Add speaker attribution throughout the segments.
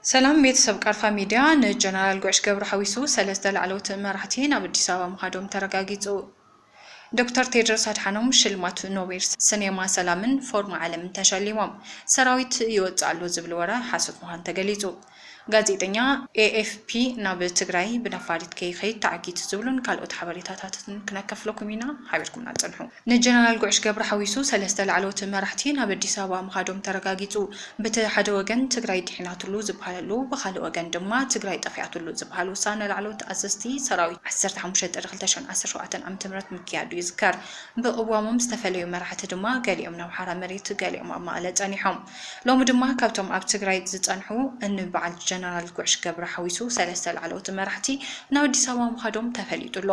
Speaker 1: ሰላም ቤተሰብ ቃርፋ ሚድያ፣ ንጀነራል ጉዕሽ ገብሩ ሓዊሱ ሰለስተ ላዕለዎት መራሕቲ ናብ ኣዲስ ኣበባ ምኻዶም ተረጋጊጹ። ዶክተር ቴድሮስ ኣድሓኖም ሽልማት ኖቤል ስኔማ ሰላምን ፎርም ዓለምን ተሸሊሞም። ሰራዊት ይወጽእ ኣሎ ዝብል ወረ ሓሶት ምዃኑ ተገሊጹ። ጋዜጠኛ ኤኤፍፒ ናብ ትግራይ ብነፋሪት ከይኸይድ ተዓጊቱ ዝብሉን ካልኦት ሓበሬታታትን ክነከፍለኩም ኢና። ሓቢርኩምና ጽንሑ። ንጀነራል ጉዕሽ ገብሩ ሓዊሱ ሰለስተ ላዕለዎት መራሕቲ ናብ ኣዲስ ኣበባ ምኻዶም ተረጋጊፁ። ብቲ ሓደ ወገን ትግራይ ዲሒናትሉ ዝበሃለሉ ብኻሊእ ወገን ድማ ትግራይ ጠፊኣትሉ ዝበሃል ውሳነ ላዕለዎት ኣዘዝቲ ሰራዊት ዓሰርተ ሓሙሽተ ጥሪ ክልተ ሽሕን ዓሰርተ ሸውዓተን ዓመተ ምህረት ምክያዱ ይዝከር። ብቕዋሞም ዝተፈለዩ መራሕቲ ድማ ገሊኦም ናብ ሓራ መሬት ገሊኦም ኣብ መቐለ ፀኒሖም። ሎሚ ድማ ካብቶም ኣብ ትግራይ ዝፀንሑ ን በዓል ጀነራል ጉዕሽ ገብሩ ሓዊሱ ሰለስተ ላዕለዎት መራሕቲ ናብ ኣዲስ ኣበባ ምኻዶም ተፈሊጡ ኣሎ።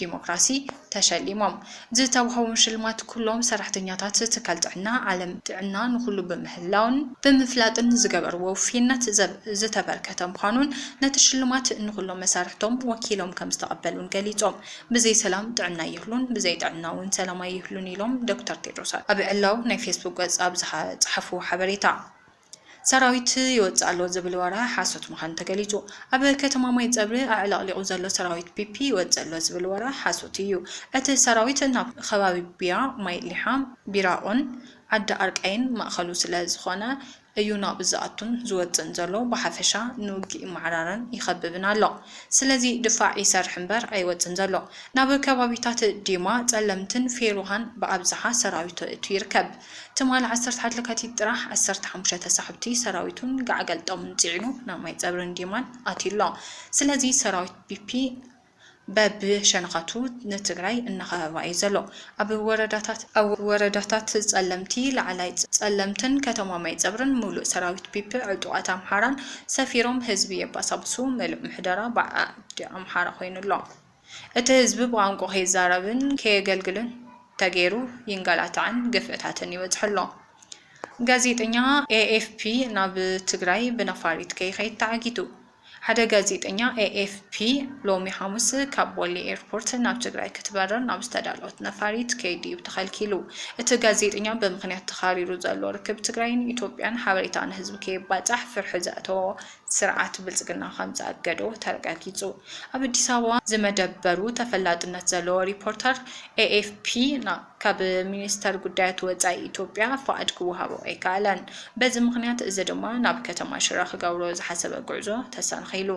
Speaker 1: ዲሞክራሲ ተሸሊሞም። ዝተውሃቦም ሽልማት ኩሎም ሰራሕተኛታት ትካል ጥዕና ዓለም ጥዕና ንኹሉ ብምህላውን ብምፍላጥን ዝገበርዎ ውፍይነት ዘብ ዝተበርከተ ምዃኑን ነቲ ሽልማት ንኹሎም መሳርሕቶም ወኪሎም ከምዝተቐበሉን ገሊፆም። ብዘይ ሰላም ጥዕና ኣይህሉን፣ ብዘይ ጥዕና እውን ሰላም ኣይህሉን ኢሎም ዶክተር ቴድሮስ ኣብ ዕላዊ ናይ ፌስቡክ ገፅ ኣብ ዝሃ ፀሓፍዎ ሓበሬታ። ሰራዊት ይወጽእ ኣሎ ዝብል ወረ ሓሶት ምዃኑ ተገሊጹ። ኣብ ከተማ ማይጸብሪ ኣዕለቕሊቑ ዘሎ ሰራዊት ፒፒ ይወጽእ ኣሎ ዝብል ወረ ሓሶት እዩ። እቲ ሰራዊት ናብ ኸባቢ ቢያ፣ ማይ ሊሓ፣ ቢራኦን ዓዲ ኣርቃይን ማእኸሉ ስለ ዝኾነ እዩ ናብኡ ዝኣቱን ዝወጽእን ዘሎ። ብሓፈሻ ንውግእ ይመዓራረን ይኸብብን ኣሎ። ስለዚ ድፋዕ ይሰርሕ እምበር ኣይወጽእን ዘሎ። ናብ ከባቢታት ዲማ፣ ጸለምትን ፌሩሃን ብኣብዝሓ ሰራዊቱ የእቱ ይርከብ። ትማሊ ዓሰርተ ሓደ ለካቲት ጥራሕ ዓሰርተ ሓሙሽተ ተሳሕብቲ ሰራዊቱን ጋዕገልጠሙን ፂዒኑ ናብ ማይፀብሪን ዲማን ኣትዩ ኣሎ። ስለዚ ሰራዊት ፒፒ በቢ ሸነኻቱ ንትግራይ እናኸበባ እዩ ዘሎ። ኣብ ወረዳታት። ኣብ ወረዳታት ፀለምቲ፣ ላዕላይ ፀለምትን ከተማ ማይፀብሪን ሙሉእ ሰራዊት ፒፒ ዕጡቓት ኣምሓራን ሰፊሮም ህዝቢ የባሳብሱ ምሉእ ምሕደራ ብዓዲ ኣምሓራ ኮይኑ ኣሎ። እቲ ህዝቢ ብቋንቁኡ ከይዛረብን ከየገልግልን ተገይሩ ይንገላታዕን ግፍዕታትን ይበፅሖ ኣሎ። ጋዜጠኛ ኤኤፍፒ ናብ ትግራይ ብነፋሪት ከይኸይድ ተዓጊቱ። ሓደ ጋዜጠኛ ኤኤፍፒ ሎሚ ሓሙስ ካብ ቦሌ ኤርፖርት ናብ ትግራይ ክትበርር ናብ ዝተዳለወት ነፋሪት ከይዱ እዩ ተኸልኪሉ። እቲ ጋዜጠኛ ብምኽንያት ተኻሪሩ ዘሎ ርክብ ትግራይን ኢትዮጵያን ሓበሬታ ንህዝቢ ከየባፃሕ ፍርሒ ዘእተዎ ስርዓት ብልፅግና ከም ዘኣገዶ ተረጋጊፁ። ኣብ ኣዲስ ኣበባ ዝመደበሩ ተፈላጥነት ዘለዎ ሪፖርተር ኤኤፍፒ ካብ ሚኒስተር ጉዳያት ወፃኢ ኢትዮጵያ ፍቓድ ክወሃቦ ኣይከኣለን። በዚ ምኽንያት እዚ ድማ ናብ ከተማ ሽረ ክገብሮ ዝሓሰበ ጉዕዞ ተሰናኺሉ።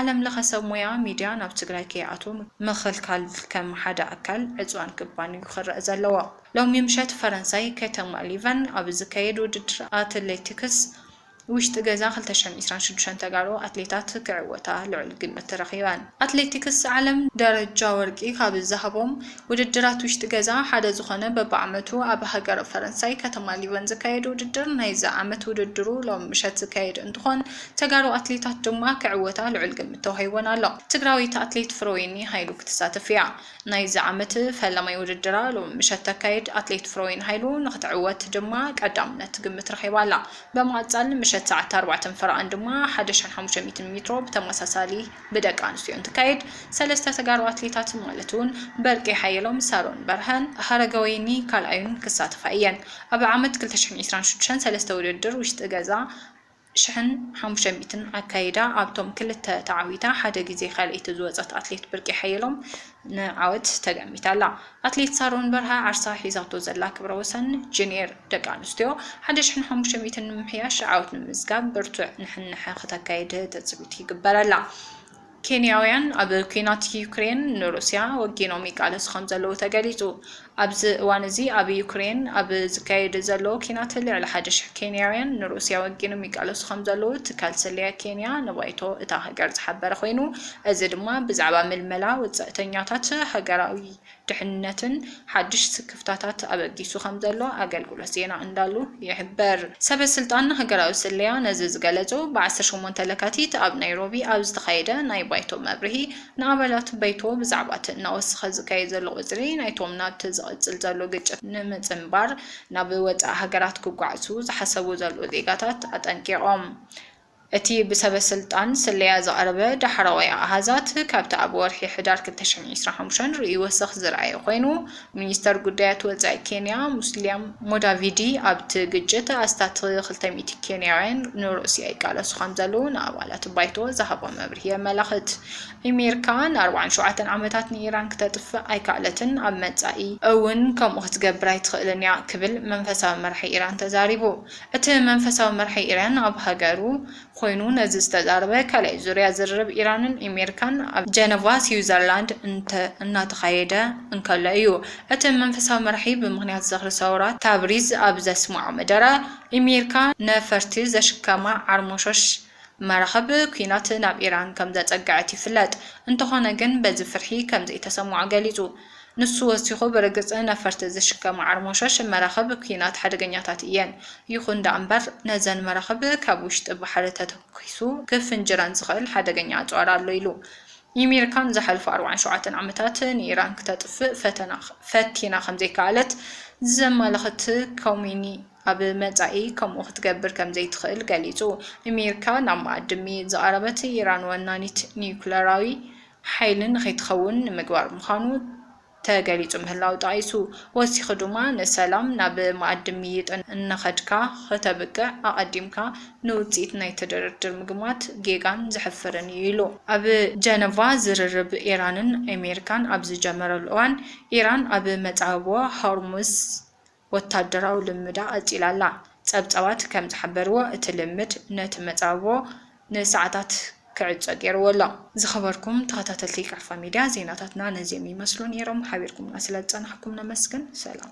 Speaker 1: ዓለም ለኸ ሰብ ሞያ ሚዲያ ናብ ትግራይ ከይኣትዉ ምኽልካል ከም ሓደ ኣካል ዕፅዋን ክባን እዩ ክረእ ዘለዎ። ሎሚ ምሸት ፈረንሳይ ከተማ ሊቨን ኣብ ዝካየድ ውድድር ኣትሌቲክስ፣ ውሽጢ ገዛ ክልተ ሽሕን ዒስራን ሽዱሽተን ተጋሩ ኣትሌታት ክዕወታ ልዑል ግምት ተረኺበን። ኣትሌቲክስ ዓለም ደረጃ ወርቂ ካብ ዝሃቦም ውድድራት ውሽጢ ገዛ ሓደ ዝኾነ በቢዓመቱ ኣብ ሃገረ ፈረንሳይ ከተማ ሊዮን ዝካየድ ውድድር ናይዚ ዓመት ውድድሩ ሎሚ ምሸት ዝካየድ እንትኾን ተጋሩ ኣትሌታት ድማ ክዕወታ ልዑል ግምት ተዋሂቡወን ኣሎ። ትግራወይቲ ኣትሌት ፍረወይኒ ሃይሉ ክትሳተፍ እያ። ናይዚ ዓመት ፈላማይ ውድድራ ሎሚ ምሸት ተካይድ፣ ኣትሌት ፍረወይኒ ሃይሉ ንኽትዕወት ድማ ቀዳምነት ትግምት ረኺባ ኣላ። ብምቕጻል ምሸት ሰዓት ኣርባዕተን ፈረቓን ድማ ሓደ ሽሕን ሓሙሽተ ሚእትን ሜትሮ ብተመሳሳሊ ብደቂ ኣንስትዮ እንትካየድ፣ ሰለስተ ተጋሩ ኣትሌታት ማለት'ውን በርቄ ሓየሎም፣ ሳሮን በርሀን። ሃረገወይኒ ካልኣዩን ክሳተፋ እየን። ኣብ ዓመት ክልተ ሽሕን ዒስራን ሽዱሽተን ሰለስተ ውድድር ውሽጢ ገዛ ሽሕን ሓሙሽተ ሚእትን ኣካይዳ ኣብቶም ክልተ ተዓዊታ ሓደ ግዜ ካልኣይቲ ዝወጸት ኣትሌት ብርቄ ሓየሎም ንዓወት ተገሚታ ኣላ። ኣትሌት ሳሮን በርሀ ዓርሳ ሒዛቶ ዘላ ክብረ ወሰን ጁንየር ደቂ ኣንስትዮ ሓደ ሽሕን ሓሙሽተ ሚእትን ንምምሕያሽ ዓወት ንምምዝጋብ ብርቱዕ ንሕንሕ ክተካይድ ትጽቢት ይግበረላ። ኬንያውያን ኣብ ኲናት ዩክሬን ንሩስያ ወጊኖም ይቃለሱ ከምዘለዉ ተገሊጹ። ኣብዚ እዋን እዚ ኣብ ዩክሬን ኣብ ዝካየድ ዘሎ ኲናት ልዕሊ ሓደ ሽሕ ኬንያውያን ንሩስያ ወጊኖም ይቃለሱ ከምዘለዉ ትካል ስለያ ኬንያ ንባይቶ እታ ሃገር ዝሓበረ ኮይኑ እዚ ድማ ብዛዕባ ምልመላ ወጻእተኛታት ሃገራዊ ድሕንነትን ሓድሽ ስክፍታታት ኣበጊሱ ከምዘሎ ኣገልግሎት ዜና እንዳሉ ይሕበር። ሰበ ስልጣን ሃገራዊ ስለያ ነዚ ዝገለጹ ብ ዓሰርተ ሸሞንተ ለካቲት ኣብ ናይሮቢ ኣብ ዝተኻየደ ናይ ባይቶ መብርሂ ንኣባላት በይቶ ብዛዕባ እቲ እናወሰኸ ዝካየድ ዘሎ ቁጽሪ ናይቶም ናብቲ ዝቕጽል ዘሎ ግጭት ንምጽንባር ናብ ወጻኢ ሃገራት ክጓዕዙ ዝሓሰቡ ዘለዉ ዜጋታት ኣጠንቂቖም። እቲ ብሰበስልጣን ስለያ ዝቐረበ ዳሕረዋይ ኣሃዛት፣ ካብቲ ኣብ ወርሒ ሕዳር ክልተ ሽሕን ዒስራን ሓሙሽተን ርእዩ ወሰኽ ዝርኣየ ኮይኑ፣ ሚኒስተር ጉዳያት ወጻኢ ኬንያ ሙስልያ ሙዳቪዲ ኣብቲ ግጭት ኣስታት ክልተ ሚእቲ ኬንያውያን ንሩስያ ይቃለሱ ከምዘለዉ ንኣባላት ባይቶ ዝሃቦ መብርሂ የመላኽት። ኣሜሪካ ንኣርብዓን ሸውዓተን ዓመታት ንኢራን ክተጥፍእ ኣይከኣለትን፣ ኣብ መጻኢ። እውን ከምኡ ክትገብር ኣይትኽእልን እያ ክብል መንፈሳዊ መራሒ ኢራን ተዛሪቡ። እቲ መንፈሳዊ መራሒ ኢራን ኣብ ሃገሩ ኮይኑ ነዚ ዝተዛረበ ካልኣይ ዙርያ ዝርርብ ኢራንን ኢሜሪካን ኣብ ጀነቫ ሲዊዘርላንድ እናተኻየደ እንከሎ እዩ። እቲ መንፈሳዊ መራሒ ብምኽንያት ዝኽሪ ሰውራ ታብሪዝ ኣብ ዘስመዖ መደረ፣ ኢሜሪካ ነፈርቲ ዘሽከማ ዓርሞሾሽ መራኽብ ኲናት ናብ ኢራን ከም ዘጸግዐት ይፍለጥ፣ እንተዀነ ግን በዚ ፍርሒ ከም ዘይተሰምዖ ገሊጹ። ንሱ ወሲኹ፣ ብርግጽ ነፈርቲ ዝሽከማ ዓርሞሸሽ መራኽብ ኲናት ሓደገኛታት እየን፣ ይኹን ደኣ እምበር ነዘን መራኽብ ካብ ውሽጢ ባሕሪ ተተኲሱ ክፍንጅረን ዝኽእል ሓደገኛ ኣጽዋር ኣሎ ኢሉ። ኢሚርካ ንዝሓለፉ ኣርብዓን ሸውዓተን ዓመታት ንኢራን ክተጥፍእ ፈቲና ከም ዘይከኣለት ዘመልኽት ኮሚኒ፣ ኣብ መጻኢ ከምኡ ክትገብር ከም ዘይትኽእል ገሊጹ። ኣሜሪካ ናብ መኣዲ ሚ ዝቐረበት፣ ኢራን ወናኒት ኒዩክለራዊ ሓይሊ ንኸይትኸውን ንምግባር ምዃኑ ተገሊጹ ምህላዉ ጠቒሱ፣ ወሲኹ ድማ ንሰላም ናብ መኣዲ ምይይጥ እናኸድካ ከተብቅዕ ኣቐዲምካ ንውጽኢት ናይቲ ድርድር ምግማት ጌጋን ዘሕፍርን እዩ ኢሉ። ኣብ ጀነቫ ዝርርብ ኢራንን ኣሜሪካን ኣብ ዝጀመረሉ እዋን፣ ኢራን ኣብ መጻብቦ ሆርሙዝ፣ ወታደራዊ ልምምዳ ቀጺላ ኣላ። ጸብጻባት ከም ዝሓበርዎ፣ እቲ ልምምድ ነቲ መጻብቦ ንሰዓታት ክዕጾ ገይርዎ ኣሎ። ዝኸበርኩም ተኸታተልቲ ቃፋ ሚድያ ዜናታትና ነዚኦም ይመስሉ ነይሮም። ሓቢርኩምና ስለዝጸናሕኩም ነመስግን። ሰላም።